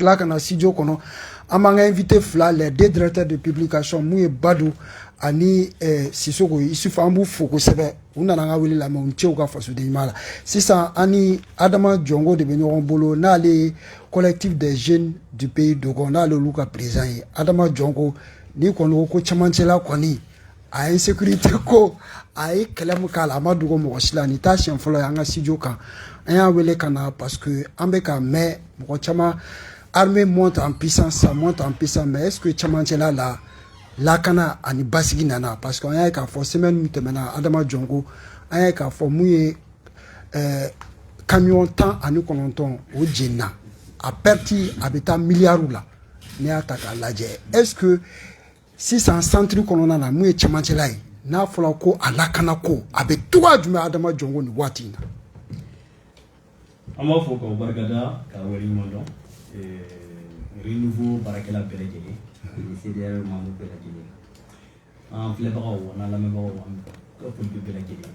seginna ka na studio kɔnɔ an b'an ka invité fila les deux directeurs de publication mun ye badu ani eh, sisoko isufu an b'u fo kosɛbɛ u nana an ka wele lamɛn u ni ce u ka fasoden ɲuman la sisan an ni adama jɔngo de bɛ ɲɔgɔn bolo n'ale ye collectif des jeunes du pays dogon n'ale olu ka président ye adama jɔngo n'i kɔni ko ko cɛmancɛla kɔni a ye insécurité ko a ye kɛlɛ min k'a la a ma dogo mɔgɔ si la nin t'a siɲɛ fɔlɔ ye an ka studio kan an y'a wele ka na parce que an bɛ ka mɛn mɔgɔ caman armée monte en puissance ça monte en puissance mais est ce que cɛmancɛla lakana ani basigi nana parce que an y'a ye k'a fɔ semaine min tɛmɛna adama jɔngo an y'a ye k'a fɔ mun ye ɛɛ camion tan ani kɔnɔntɔn o jenina a perte a bɛ taa miliyariw la n'i y'a ta k'a lajɛ est ce que sisan centre kɔnɔna na mun ye cɛmancɛla ye n'a fɔra ko a lakanako a bɛ cogoya jumɛn adama jɔngo nin waati in na an b'aw fo k'aw barikada k'aw waleɲumandɔn renouveau baarakɛla bɛɛ lajɛlen ani CDR membre bɛɛ lajɛlen an filɛbagaw an'an lamɛnbagaw an ka politique bɛɛ lajɛlen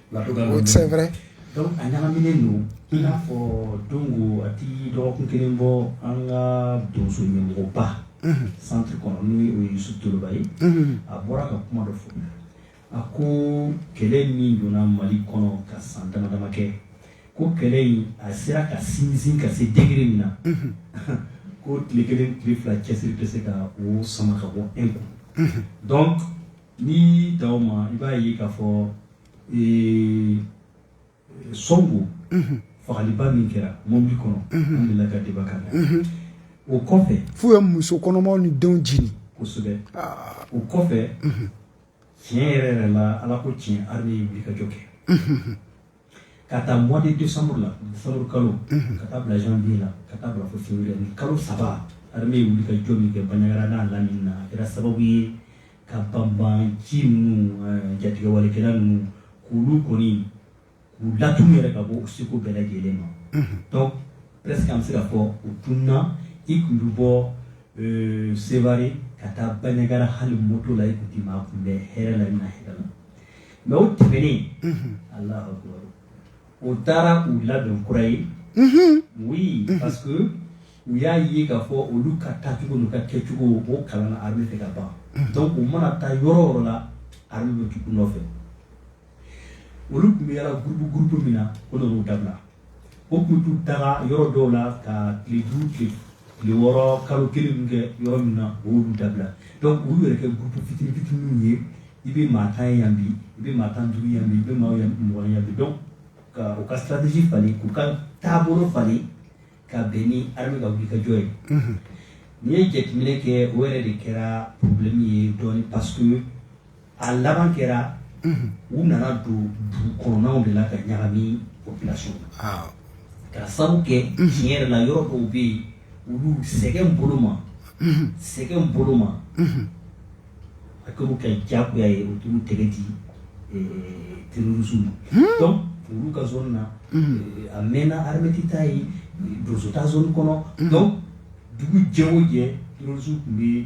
c'est vrai donc a ɲagaminen don i n'a fɔ donc a tɛ dɔgɔkun kelen bɔ an ka donso ɲɛmɔgɔba centre kɔnɔ n'o ye yusufu toloba ye a bɔra ka kuma dɔ fɔ a ko kɛlɛ min donna mali kɔnɔ ka san damadama kɛ ko kɛlɛ in a sera ka sinsin ka se degré min na ko tile kelen tile fila cɛsiri tɛ se ka o sama ka bɔ an kun N'i y'a ta o ma, i b'a ye k'a fɔ ee Songo fagaliba min kɛra mɔbili kɔnɔ, unhun, an delila ka débat k'a la, unhun, o kɔfɛ, f'u ye muso kɔnɔmaw ni denw jeni, kosɛbɛ, aa, o kɔfɛ, unhun, tiɲɛ yɛrɛ yɛrɛ la Ala ko tiɲɛ armée ye wulikajɔ kɛ, unhun. K'a ta mois de décembre la décembre kalo ka taa bila janvier la ka taa bila février nin kalo saba armée wulikajɔ min kɛ Banjagara n'a lamini na a kɛra sababu ye ka banbaganci ninnu jatigɛwalekɛla ninnu kulu kɔni k'u latunun yɛrɛ ka bɔ segu bɛɛ lajɛlen ma donc presque an bɛ se k'a fɔ u tununna i tun bɛ bɔ Sevare ka taa Banjagara hali moto la i tun tɛ maa kunbɛn hɛrɛ la i na hɛrɛ la mais o tɛmɛnen u taara u labɛn kura ye oui parce que u y'a ye k'a fɔ olu ka taacogo olu ka kɛcogo o kalanna armée fɛ ka ban donc u mana taa yɔrɔ o yɔrɔ la armée bɛ tugu u nɔfɛ olu tun bɛ yaala groupe groupe min na o dabila O k'u tun taara yɔrɔ dɔw la ka tile duuru kɛ tile wɔɔrɔ kalo kelen kɛ yɔrɔ min na o dabila donc olu yɛrɛ kɛ groupe fitini fitiniw ye i bɛ maa tan yan bi i bɛ maa tan duuru yan bi i bɛ maa mugan yan bi donc k'u ka stratégie falen k'u ka taabolo falen ka bɛn ni armée ka wulikajɔ ye n'i ye jateminɛ kɛ o yɛrɛ de kɛra problème ye dɔn pa A laban kɛra u nana don dugu kɔnɔnaw de la ka ɲagami population na ka sababu kɛ tiɲɛ yɛrɛ la yɔrɔ dɔw bɛ yen olu sɛgɛn bolo ma sɛgɛn bolo ma a kɛr'u kan jagoya ye u tun tɛgɛ di terrorisme ma donc olu ka zone na a mɛnna armée tɛ taa yen donso ta zone kɔnɔ donc dugu jɛ o jɛ terrorisme tun bɛ yen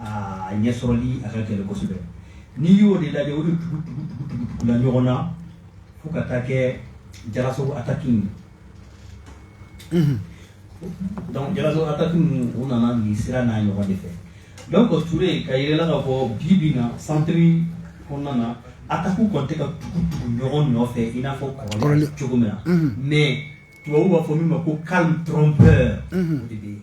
aa ɲɛ sɔrɔli a ka gɛlɛn kosɛbɛ n'i y'o de lajɛ o de tugu tugu tugu tugu tugula ɲɔgɔn na fo ka taa kɛ Diallassagou ataki in mhm. donc Diallassagou ataki ninnu u nana nin sira n'a ɲɔgɔn de fɛ donc Ture ka yɛlɛla ka fɔ bi bi in na centre kɔnɔna na atakiw kɔni tɛ ka tugu tugu ɲɔgɔn nɔfɛ i n'a fɔ kɔrɔlen cogo min na mhm. mais tubabu b'a fɔ min ma ko calme trompeur mhm. o de bɛ yen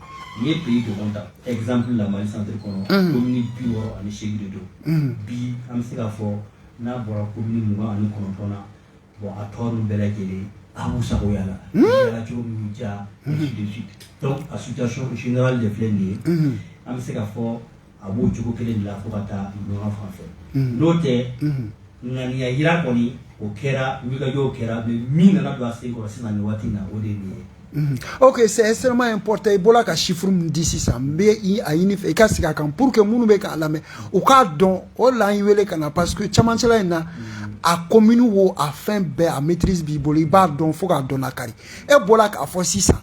N'i ye pays dogon ta exemple la Mali centre kɔnɔ commune 68 de don bi an bɛ se k'a fɔ n'a bɔra commune 29 na bon a tɔ ninnu bɛɛ lajɛlen a b'u sago yaalayaala cogo min b'u diya ainsi de suite donc a situation générale de filɛ nin ye an bɛ se k'a fɔ a b'o cogo kelen de la fo ka taa Niono fan fɛ n'o tɛ ŋaniya jira kɔni o kɛra wulikajɔw kɛra mais min nana don a sen kɔrɔ sisan nin waati in na o de ye nin ye Mhm. ok c'est extrêmement important i bɔra ka chiffre min di sisan n bɛ a ɲini fɛ i ka segin a kan pour que minnu bɛ k'a lamɛn u k'a dɔn o de la an y'i wele ka na parce que camancɛla in na a commune wo a fɛn bɛɛ a maîtrise b'i bolo i b'a dɔn fo k'a dɔn lakari e bɔra k'a fɔ sisan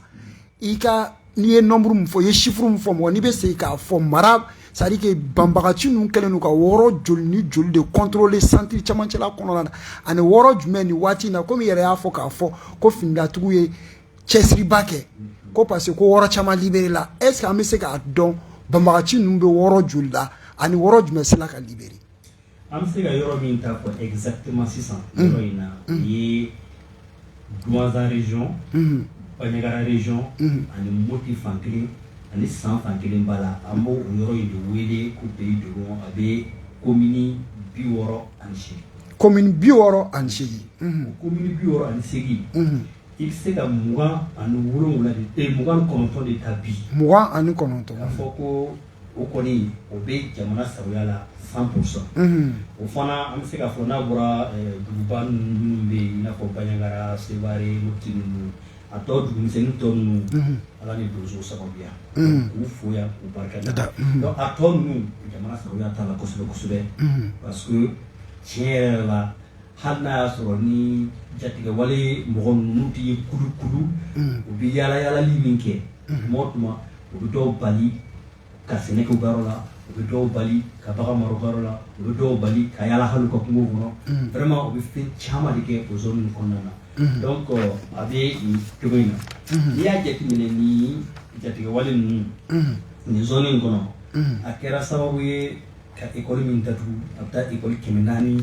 i ka n'i ye nombre min fɔ i ye chiffre min fɔ mɔgɔ n'i bɛ se k'a fɔ an ma c'est-à-dire que banbaganci ninnu kɛlen don ka yɔrɔ joli ni joli de contrôler centre camancɛla kɔnɔna na ani yɔrɔ jumɛn nin waati in na comme i yɛrɛ y'a fɔ k'a fɔ ko finitigiw ye cɛsiriba kɛ ko parce que ko yɔrɔ caman libéré la est-ce que an bɛ se k'a dɔn banbaganci ninnu bɛ yɔrɔ joli la ani yɔrɔ jumɛn sela ka libérer An bɛ se ka yɔrɔ min ta ko exactement sisan yɔrɔ in na o ye Douentza région Bandiagara région ani Mopti fan kelen ani San fan kelen b'a la an b'o yɔrɔ in de wele ko pays dogon a bɛ commune 68 commune 68 o commune 68 i bɛ se ka 29 de ta bi 29 k'a fɔ ko O kɔni o bɛ jamana sagoya la cent pour cent o fana an bɛ se k'a fɔ n'a bɔra duguba ninnu bɛ yen n'a fɔ banyagara seware moti ninnu a tɔ dugumisɛnnin tɔ ninnu ala ni donso sababuya k'u fo yan k'u barika da a tɔ ninnu jamana sagoya t'a la kosɛbɛ kosɛbɛ parce que tiɲɛ yɛrɛ la hali n'a y'a sɔrɔ ni jatigɛwale mɔgɔ ninnu tɛ ye kulukulu u bɛ yaalayaali min kɛ mɔgɔ tuma u bɛ dɔw bali ka sɛnɛ kɛ u ka yɔrɔ la u bɛ dɔw bali ka bagan mara u ka yɔrɔ la u bɛ dɔw bali ka yala hali u ka kungo kɔnɔ vraiment u bɛ fɛn caman de kɛ o zone kɔnɔna na donc a bɛ cogo in na n'i y'a jateminɛ ni jatigɛwale ninnu nin zone in kɔnɔ a kɛra sababu ye ka ekɔli min datugu a bɛ taa ekɔli kɛmɛ naani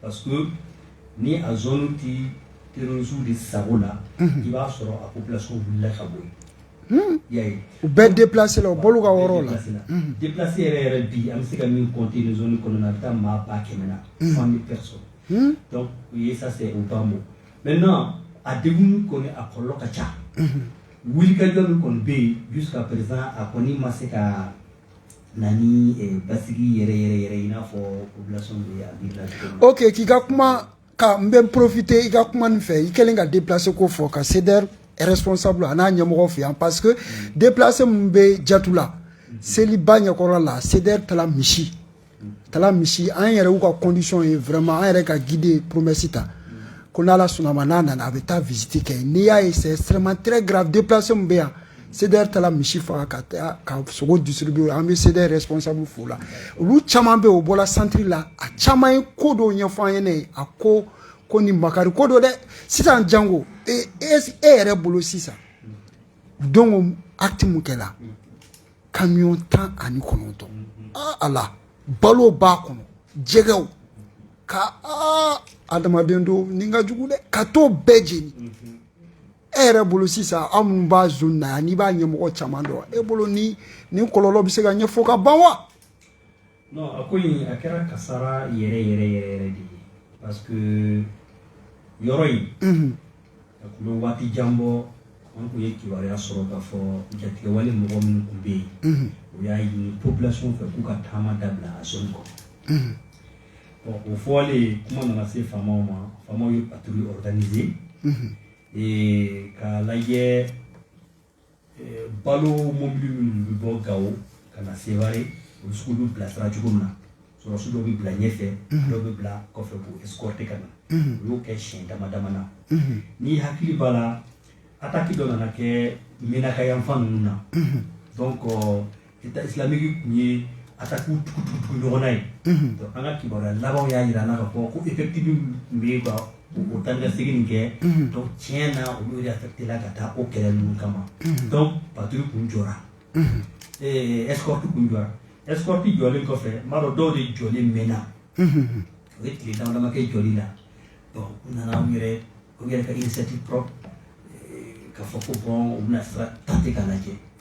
Pa ni a tɛ teriurusu de sago la i b'a sɔrɔ a bilasiw la ka bɔ ya u bɛɛ de bilasi u bolo ka yɔrɔ la de bilasi yɛrɛ yɛrɛ bi an bɛ se ka min kɔn tɛ kɔnɔ na a bɛ taa maa ba kɛmɛ na fan bɛ sɔrɔ u ye sa u ba bɔ mɛ n a de kɔni a kɔlɔn ka ca wuli kajɔ min kɔni bɛ yen bi ka perez a kɔni ma se ka Na basigi yɛrɛ yɛrɛ yɛrɛ i n'a fɔ ok k'i ka kuma ka n bɛ porofite i ka kuma nin fɛ i kɛlen ka déplacé ko fɔ ka CDR responsable a n'a ɲɛmɔgɔ fo yan parce que déplacé min bɛ jatula seliba ɲɛkɔrɔ la CDR taara misi Tala misi an yɛrɛ y'u ka condition ye vraiment an yɛrɛ ka guide ye promesse ta ko n'ala sɔnn'a ma n'a nana a bɛ taa visite kɛ n'i y'a ye c'est extrêmement très grave déplacé min bɛ yan CDR taara misi faga ka sogo distribuer an bɛ CDR responsable fo la olu caman bɛ o bɔra centre la a caman ye ko dɔw ɲɛfɔ an ɲɛna a ko nin makari ko don dɛ sisan jango e e yɛrɛ bolo sisan donc acte min kɛla kamiyɔn tan ani kɔnɔntɔn ala balo b'a kɔnɔ jɛgɛw ka aa adamaden dɔw ni ka jugu dɛ ka t'o bɛɛ jeni e yɛrɛ bolo sisan aw minnu b'a zone na yan n'i b'a ɲɛmɔgɔ caman dɔn e bolo nin nin kɔlɔlɔ bɛ se ka ɲɛfɔ ka ban wa non a ko in a kɛra kasara yɛrɛ yɛrɛ yɛrɛ yɛrɛ de ye parce que yɔrɔ in a tun bɛ waati jan bɔ an tun ye kibaruya sɔrɔ k'a fɔ jatigɛwale mɔgɔ minnu tun bɛ yen o y'a ɲini population fɛ k'u ka taama dabila a zone kɔnɔ o fɔlen kuma nana se faamaw ma faamaw ye patrouille organiser k'a lajɛ Eh, balo mobili minnu bɛ bɔ gawo ka na seware olu sugu bɛ bilasira cogo min na sɔrɔsi dɔ bɛ bila ɲɛfɛ mhm. dɔ bɛ bila kɔfɛ k'u escorter ka na mhm. u y'o kɛ siɲɛ dama dama na mhm. n'i hakili b'a la ataki dɔ nana kɛ menaka yanfan ninnu na donc Islamique tun ye attaque tugu ɲɔgɔn na ye an ka kibaruya labanw y'a jira an na ka fɔ ko effectif tun bɛ ban u tan ka segin kɛ tiɲɛ na olu yɛrɛ affecté la ka taa o kɛlɛ ninnu kama donc patrouille tun jɔra escorte tun jɔra escorte jɔlen kɔfɛ n b'a dɔn dɔw de jɔlen mɛnna o ye tile dama dama kɛ jɔli la u nana u yɛrɛ u yɛrɛ ka initiative ka fɔ ko u bɛna sira ta ka lajɛ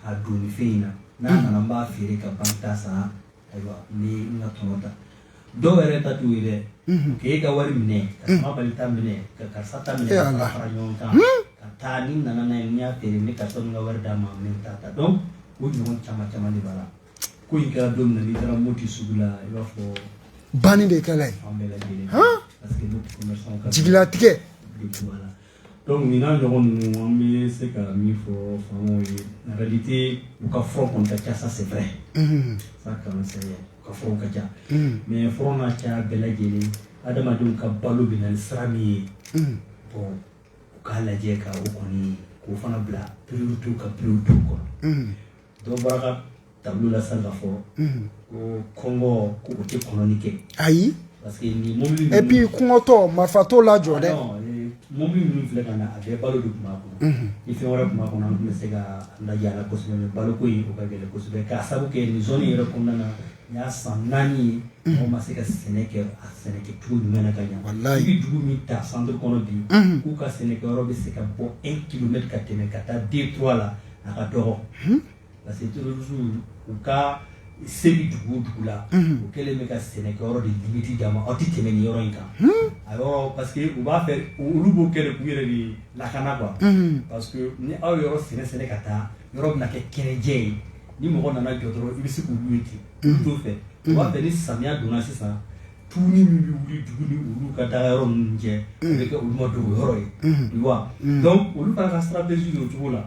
Ka don nin fɛn in na n'a mm. nana n b'a feere ka banque ta sara ayiwa n bɛ n ka tɔnɔ ta dɔw yɛrɛ ta t'o ye dɛ mm-hmm. k'e ka wari minɛ ka mm. sama bali ta minɛ ka karisa ta minɛ ka fara ɲɔgɔn kan mm. ka taa ni n nana n'a ye n y'a feere n bɛ karisa min ka wari d'a ma n bɛ n ta ta donc o ɲɔgɔn caman caman de b'a la ko in kɛra don min na n'i taara Moti sugu la i b'a fɔ banni de kɛla ye an bɛɛ lajɛlen parce que nous commerçants ka jigilatigɛ Donc nin n'a ɲɔgɔn ninnu an bɛ se ka min fɔ faamaw ye en réalité u ka front kɔni ka ca ça c'est vrai unhun ça quand même c'est vrai u ka front ka ca unhun mais front n'a caya bɛɛ lajɛlen adamadenw ka balo bɛ na ni sira min ye unhun bon u k'a lajɛ ka o kɔni k'o fana bila priorité ka priorité kɔnɔ unhun dɔ bɔra ka tableau la sisan k'a fɔ ko kɔngɔ ko o tɛ kɔnɔni kɛ ayi parce que nin mobili ninnu et puis kɔngɔtɔ marifa t'o lajɔ dɛ mobili ninnu filɛ ka na a bɛɛ balo de tun b'a kɔnɔ ni fɛn wɛrɛ tun b'a kɔnɔ an tun bɛ se ka lajɛ a la kosɛbɛ mais baloko in o ka gɛlɛn kosɛbɛ k'a sabu kɛ nin zone yɛrɛ kɔnɔna na nin y'a san naani ye mɔgɔ ma se ka sɛnɛ kɛ a sɛnɛkɛcogo ɲuman na ka ɲa i bɛ dugu min ta centre kɔnɔ bi k'u ka sɛnɛkɛyɔrɔ bɛ se ka bɔ un kilomètre ka tɛmɛ ka taa deux trois la a ka dɔgɔ parce que terroristes u ka se bɛ dugu o dugu la u kɛlen bɛ ka sɛnɛkɛyɔrɔ de limite d'a ma aw tɛ tɛmɛ nin yɔrɔ in kan a yɔrɔ parce que u b'a fɛ olu b'o kɛ de k'u yɛrɛ de lakana quoi parce que ni aw ye yɔrɔ sɛnɛ sɛnɛ ka taa yɔrɔ bɛna kɛ kɛnɛjɛ ye ni mɔgɔ nana jɔ dɔrɔn i bɛ se k'olu ye ten olu t'o fɛ u b'a fɛ ni samiya donna sisan tu min bɛ wuli dugu ni olu ka dagayɔrɔ ninnu cɛ o bɛ kɛ olu dogoyɔrɔ ye olu fana ka stratégie bɛ o cogo la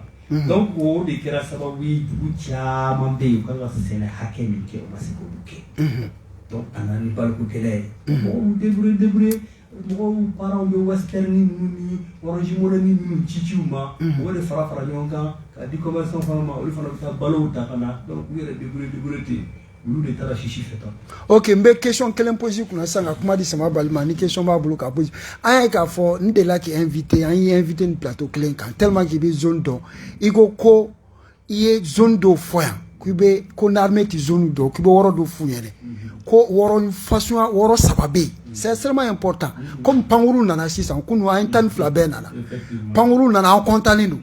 donc o de kɛra sababu ye dugu caman bɛ yen u ka kan ka sɛnɛ hakɛ min kɛ o ma se k'olu kɛ a nana ni baloko gɛlɛya ye mɔgɔw débrouillé mɔgɔw parents bɛ western ninnu ni orange money ninnu cici u ma o de fara fara ɲɔgɔn kan k'a di commerçant fana ma olu fana bɛ taa balow ta ka na u yɛrɛ débrouillé ten olu de taara sisi fɛ tan ok n bɛ question kelen poser kunna sisan ka kuma di sama bali ma ni question b'a bolo k'a poser an y'a k'a fɔ n delila k'i invité an y'i invité nin plateau kelen kan tellement k'i bɛ zone dɔn i ko ko i ye zone dɔw fɔ yan k'i bɛ ko n'armée ti zone dɔn k'i bɛ yɔrɔ dɔw f'u ɲɛna ko yɔrɔ façon yɔrɔ saba bɛ yen c'est extrêmement important comme pankuru nana sisan kunu an ye tan ni fila bɛɛ nana pankuru nana an kɔntalen don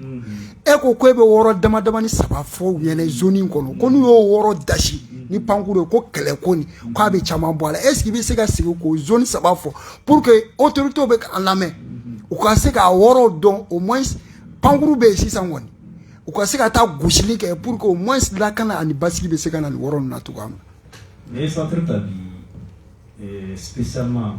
e ko ko e bɛ yɔrɔ dama dama ni saba fɔ u ɲɛna zone in kɔnɔ ko n'u y'o yɔrɔ dasi ni pankuru ye ko kɛlɛ ko nin ko a bɛ caman bɔ a la est-ce que i bɛ se ka sigi k'o zone saba fɔ pour que autorité bɛ k'an lamɛn u ka se k'a yɔrɔw dɔn au moins pankuru bɛ yen sisan kɔni u ka se ka taa gosili kɛ pour que au moins lakana ani basigi bɛ se ka na nin yɔrɔ ninnu na cogoya min na. N'i ye centre ta bi spécialement.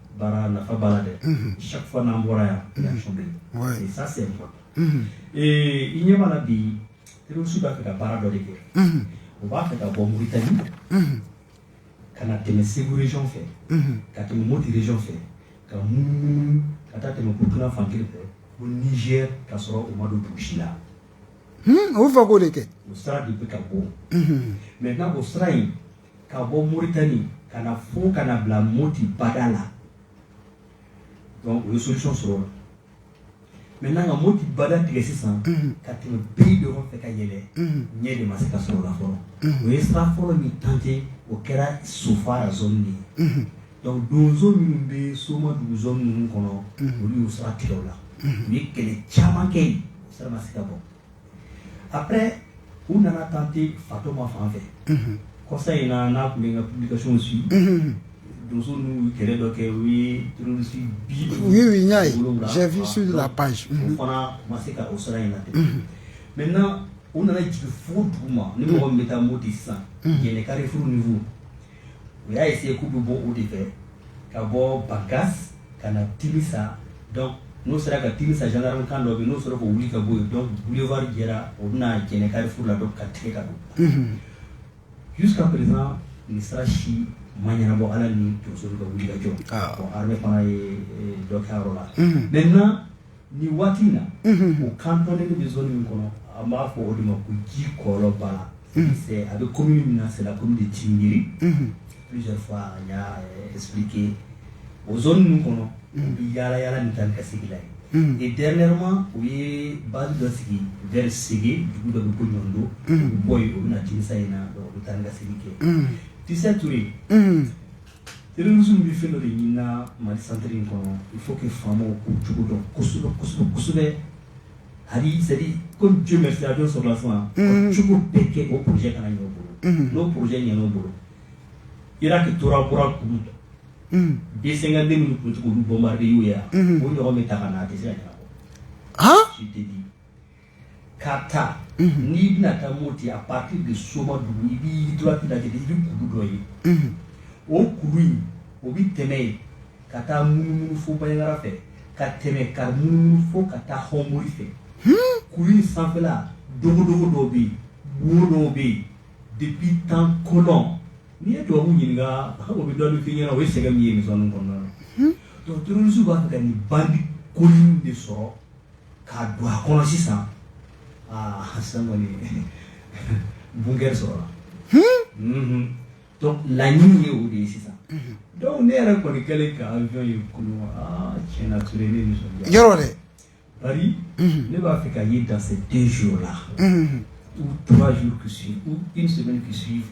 baara nafa b'a la dɛ chaque fois n'an bɔra yan réaction bɛ yen et ça c'est important ee i ɲɛ b'a la bi terroriste b'a fɛ ka baara dɔ de kɛ u b'a fɛ ka bɔ Mauritanie ka na tɛmɛ Segu région fɛ ka tɛmɛ Mopti région fɛ ka munumunu ka taa tɛmɛ Burkina fan kelen fɛ fo Niger ka sɔrɔ u ma don dugu si la u b'a fɛ k'o de kɛ o sira de bɛ ka bɔ maintenant o sira in ka bɔ moritani ka na fo ka na bila moti bada la donc u ye solution sɔrɔ o la maintenant ka moti bada tigɛ sisan ka tɛmɛ pays dogon fɛ ka yɛlɛ yen de ma se ka sɔrɔ u la fɔlɔ u ye sira fɔlɔ min tenter o kɛra sofara zone de ye donc donso minnu bɛ Somadugu zone ninnu kɔnɔ olu y'u sira tigɛ o la u ye kɛlɛ caman kɛ yen o sira ma se ka bɔ après u nana tenter Fatɔma fan fɛ, unhun, kɔsa in na n'a tun bɛ n ka publication suivre unhun, donsow n'u ye kɛlɛ dɔ kɛ u ye terroriste bi duuru, oui oui n y'a ye j'ai vu sur la page donc o fana u ma se ka o sira in latigɛ, unhun, maintenant u nana jigin fo duguma ni mɔgɔ min bɛ taa Moti sisan Jɛnɛ carrefour niveau u y'a ye seko bɛ bɔ o de fɛ ka bɔ bagas ka na tiri sa n'o sera ka tiri sa jankararo kan dɔ n'o sɔrɔ k' wuli ka bɔ yen dɔn bufaa jɛra o bɛna jɛnɛkari furu la dɔn ka tile ka don su ka pere nin sara si ma ɲɛnabɔ ala ni donso ka wuli ka jɔ fana ye dɔ kɛyɔrɔ la mɛ Ni waati in na o kan bɛ min kɔnɔ an b'a fɔ o de ma ko ji kɔlɔn bala a bɛ ko min na sera ko de t'i miiri sike o ninnu kɔnɔ bɛ yaa yalala min taa ka sigi la ye dɛmɛma u ye ba dɔ sigi vri sigi dugu dɔ bɛ ko ɲɔgɔn don bɔ yen u bɛ na tisa in na u bɛ taa ka sigi kɛ tisa to yen Irisu bɛ fɛn dɔ de ɲin na mali santeri in kɔnɔ i fo kɛ faama ko cogo dɔn kosɛbɛ kosɛbɛ kosɛbɛ hali sa ko jo bɛ filadon sɔrɔ suma cogo bɛ kɛ o pjɛ ka ɲɔgɔn bolo n'o pjɛ ɲ bolo i ka tora kura kun denkɛden minnu tuncogo bɔnba y'o yan o ɲɔgɔn bɛ ta ka' a tɛ se ka ɲɛna ka taa n'i bɛna taa moti à partir de somadugu i b'i droite lajɛ i bɛ kulu dɔ ye o kulu in o bɛ tɛmɛ yen ka taa munumunu fo bandiagara fɛ ka tɛmɛ ka munumunu fo ka taa hɔnbori fɛ kulu in sanfɛla dogodogo dɔw bɛ yen wo dɔw bɛ yen depuis temps colon n'i ye tubabu ɲininka o bɛ dɔɔnin f'i ɲɛna o ye sɛgɛn min ye nin zone kɔnɔna na donc terroriste b'a fɛ ka nin bande colline de sɔrɔ ka don a kɔnɔ sisan aa sisan kɔni bunker sɔrɔla donc laɲini ye o de ye sisan donc ne yɛrɛ kɔni kɛlen ka avion ye kunun aa tiɲɛ na Ture ne nisɔndiyara yɔrɔ dɛ bari ne b'a fɛ k'a ye dans ces deux jours là ou trois jours qui suivent ou une semaine qui suivent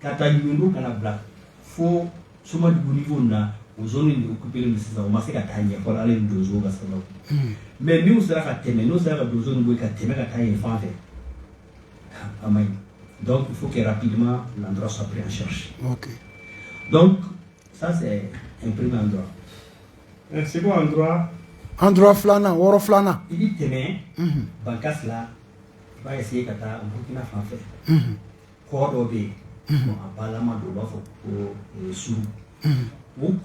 k'a ta yundo ka n'a bila fo somadugu niveau la o zone de occupé don sisan o ma se ka taa ɲɛ fɔlɔ ala ni donsow ka sababu mais n'u sera ka tɛmɛ n'u sera ka donso ninnu bɔ ka tɛmɛ ka taa yen fan fɛ a ma ɲi donc il faut que rapidement l'endroit soit pris en charge okay. donc ça c'est un premier endroit un second endroit endroit filanan yɔrɔ filanan i bi tɛmɛ bankasi la i b'a essayer ka taa burkina fan fɛ Kɔ dɔ bɛ yen a ba don u b'a fɔ ko Suru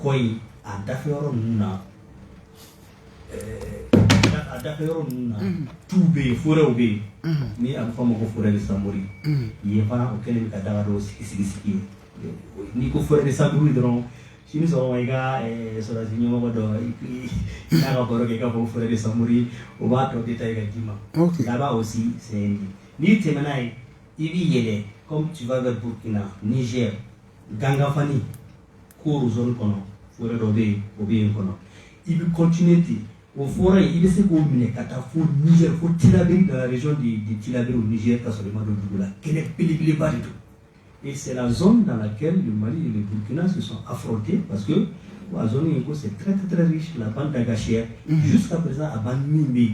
kɔ yen a dafɛ yɔrɔ ninnu na a dafɛ yɔrɔ ninnu na tu bɛ yen forêt bɛ yen ni a bɛ fɔ a ma ko forêt de Samori yen fana o kɛlen ka daga dɔw sigi sigi sigi n'i ko forêt de Samori donc si bɛ sɔrɔ i ka sɔrɔdasi ɲɛmɔgɔ dɔn n'a ka baro kɛ ka bɔ forêt de Samori o b'a détaillé k'a d'i ma là-bas aussi c'est n'i tɛmɛna yen I bɛ yɛlɛ comme tu vas vers Burkina, Niger, Gangafani, Koro zone kɔnɔ, forêt dɔ bɛ yen, o bɛ yen kɔnɔ. I bɛ continuer ten, o forêt in i bɛ se k'o minɛ ka taa fo Niger, fo Tilaberi dans la région de de Tilaberi au Niger ka sɔrɔ i ma don dugu la. Kɛnɛ belebeleba de don. Et c'est la zone dans laquelle le Mali et le Burkina se sont affrontés parce que ko a zone in ko c'est très très très riche, la bande d'Agacher, unhun, jusqu'à présent a bande min bɛ yen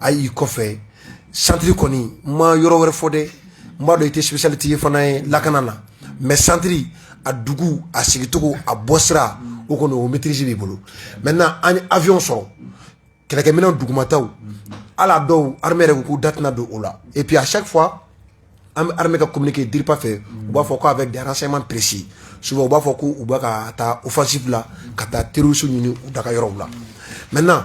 a y'i kɔfɛ centre kɔni n ma yɔrɔ wɛrɛ fɔ dɛ n b'a dɔn i tɛ spécialiste fana ye lakana na mais centre a dugu a sigicogo a bɔ sira o kɔni o maîtrise b'i bolo maintenant an ye avionw sɔrɔ kɛlɛkɛminɛn dugumataw ala dɔw armée yɛrɛ k'u da tɛna don o la et puis à chaque fois an bɛ armée ka communiqué DIRPA fɛ u b'a fɔ ko avec des renseignements précis souvent u b'a fɔ k'u bɛ ka taa offensive la ka taa terroristes ɲini u daga yɔrɔw la maintenant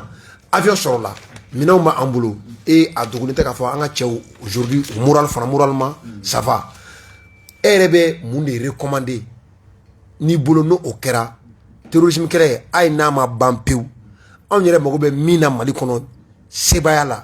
avion sɔrɔla minɛnw bɛ an bolo et a dogolen tɛ k'a fɔ an ka cɛw aujourd'hui moral fana moralement ça va e yɛrɛ bɛ mun de recommander n'i bolo n'o kɛra terrorisme kɛlɛ hali n'a ma ban pewu anw yɛrɛ mago bɛ min na Mali kɔnɔ sebaaya la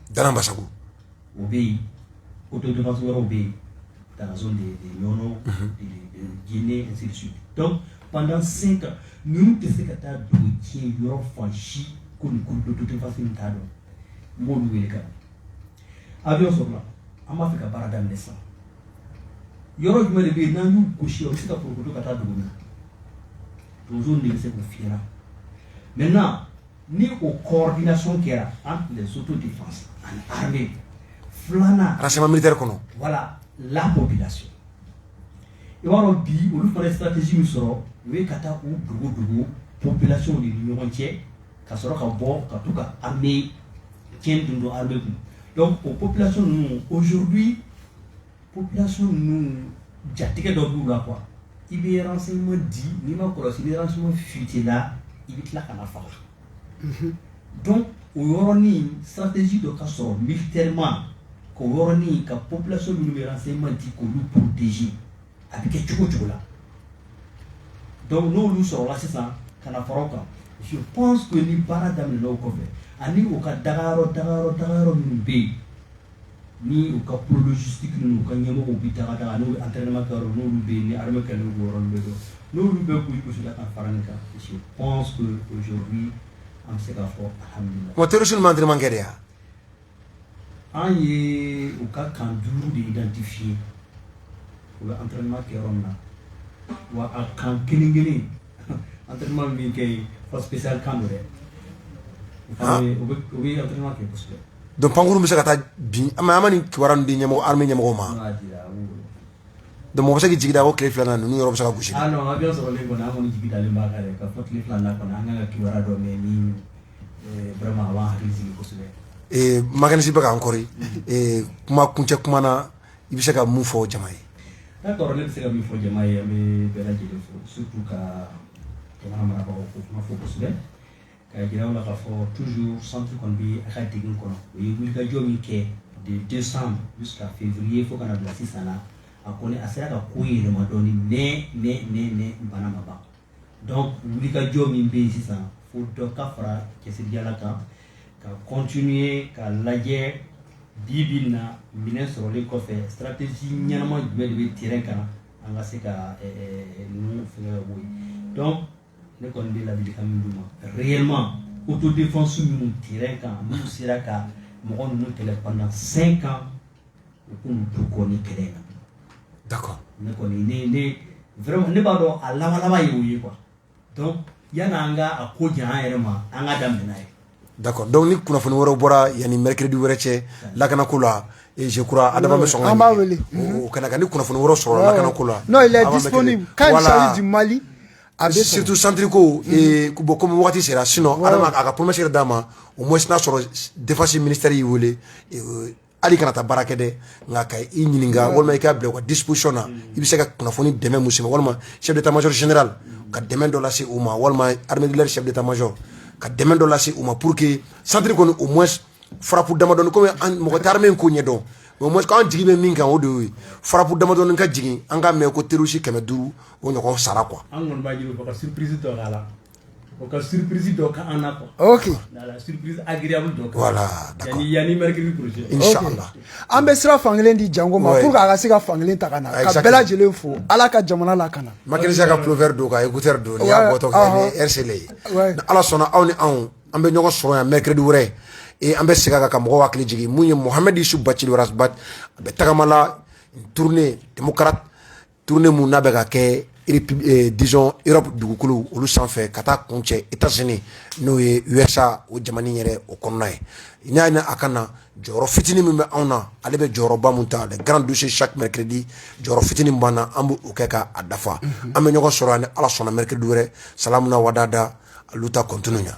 Dara masa o bɛ yen o to donso yɔrɔ bɛ yen daz de yɔrɔ jinɛinɛ pantan sen kan ninnu tɛ se ka taa dugu ci yɔrɔ fan si ko donfafin ta dɔn n b'olu wele ka a bɛ sɔrɔ an b'a fɛ ka baara daminɛ sa yɔrɔ jumɛn de bɛ yen n'an y'u gosi o bɛ se ka pkolo ka taa dugu na donso de bɛ se k' fi mɛ na ni o kɔɔridinasɔn kɛra anti dɛ sotu de fa ani hame filanan arasaba miri kɔnɔ wala lamɔ bɛ laseso i b'a dɔn bi olu fana ye sararatesi min sɔrɔ u ye ka taa u dugu dugu pbilasiww de ni ɲɔgɔn cɛ ka sɔrɔ ka bɔ ka taa ka an bɛ cɛn dun don an bɛ kun dɔnku o pbilasi ninnu ozurubi Ppilasɔn ninnu jatigɛ dɔ b'u la qu i bɛ ma di ni ma kɔlɔsi ma fi la i bɛ tila ka faga don oɔrɔnin satisi dɔ ka sɔrɔ mi terima koɔrɔnin ka pbilasi minnu bɛ ma di k'olu ptez a bɛ kɛ cogo cogo la dɔnku n'oolu sɔrɔla sisan ka na fara kan su ni baara daminɛ kɔfɛ ani u ka dagayɔrɔ dagayɔrɔ dagayɔrɔ minnu bɛ yen Ni u ka psiti u ka ɲɛmɔgɔ bɛ taa n'u an tɛma n'olu bɛ ni hama kɛ n' bɛ dɔn n'olu bɛ g gosi ka fara min kan an bɛ se k'a fɔ wa terisi man terimakɛ yan an ye u ka kan duuru de danti fi ye u an tɛma kɛ yɔrɔ min na wa a kan kelen kelen an teri min kɛ yen pa que se kan u bɛ an teri kɛ kosɛbɛ Donc pankuru bɛ se ka taa bin a ma ni kibaruya dira ɲɛmɔgɔ armée ɲɛmɔgɔw ma donc mɔgɔ bɛ se k'i jigi da ko tile filanan ninnu yɔrɔ bɛ se ka gosi Maganisi bɛ ka an kɔrɔ kuma kuncɛ kuma na i bɛ se ka mun fɔ jama ye Ka jira u la k'a fɔ toujours centre kɔni bɛ a ka degun kɔnɔ u ye wulikajɔ min kɛ de décembre jusqu'à février fo ka na bila sisan na a kɔni a sera ka ko yɛlɛma dɔɔni mais bana ma ban donc wulikajɔ min bɛ yen sisan fo dɔ ka fara cɛsiriyala kan ka continuer ka lajɛ bi bi na minɛn sɔrɔlen kɔfɛ stratégie ɲɛnama jumɛn de bɛ terrain kan an ka se ka ninnu fɛnkɛ ka bɔ yen donc ne kɔni bɛ ladilikan min d'u ma réellement autodéfense minnu terrain kan n'u sera ka mɔgɔ ninnu kɛlɛ pendant 5 ans u k'u to kɔni kɛlɛ in na d'accord ne kɔni ne ne vraiment ne b'a dɔn a laban laban ye o ye quoi donc yanni an ka a ko janya an yɛrɛ ma an ka daminɛ n'a ye Da dɔnku ni kunnafoni wɛrɛ bɔra yan ni mtiridi wɛrɛ cɛ lakana ko la eekura a bɛ sɔn an b'a wele kana ni kunnafoni wɛrɛ sɔrɔ lakana ko la n'o laji mali a bɛ setu santiriri ko bɔn kɔmi waati sera sin a ka kumasi d'a ma o ma sina sɔrɔ defasi miniri y'i weele hali kana taa baara kɛ dɛ nka ka i ɲininka walima i k'a bila u ka disposition na i bɛ se ka kunnafoni dɛmɛ mun se u ma walima chef d'état major général ka dɛmɛ dɔ lase u ma walima armée de l'air chef d'état major ka dɛmɛ dɔ lase u ma pour que centre kɔni au moins frappe damadɔni komi mɔgɔ tɛ armée in ko ɲɛdɔn mais au moins k'an jigi bɛ min kan o de y'o ye frappe damadɔni ka jigin an k'a mɛn ko terroriste kɛmɛ duuru o ɲɔgɔn sara quoi an kɔni b'a ɲini u fɛ ka surprise dɔ k'a la O ka surprise dɔ k'an na an bɛ sira fankelen di Jango ma pour a ka se ka fankelen ta na ka bɛɛ lajɛlen fo ala ka jamana lakana ma ka pullover don ka don ni ala sɔnna aw ni anw an bɛ ɲɔgɔn sɔrɔ yan mercredi wɛrɛ ee an bɛ segin kan ka mɔgɔ hakili jigin mun ye Mohamed Youssouf Bathily Ras Bath a bɛ tagama la tournée démocrate Tournée min n'a bɛ ka kɛ disons Europe dugukolo olu sanfɛ ka taa kun cɛ États-Unis n'o ye USA o jamana yɛrɛ o kɔnɔna ye n y'a ɲini a ka na jɔyɔrɔ fitinin min bɛ anw na ale bɛ jɔyɔrɔba min ta les grands dossiers chaque mercredi jɔyɔrɔ fitinin min b'an na an b'o kɛ k'a dafa an bɛ ɲɔgɔn sɔrɔ yan ni ala sɔnna mercredi wɛrɛ salamu na wadada a luta continua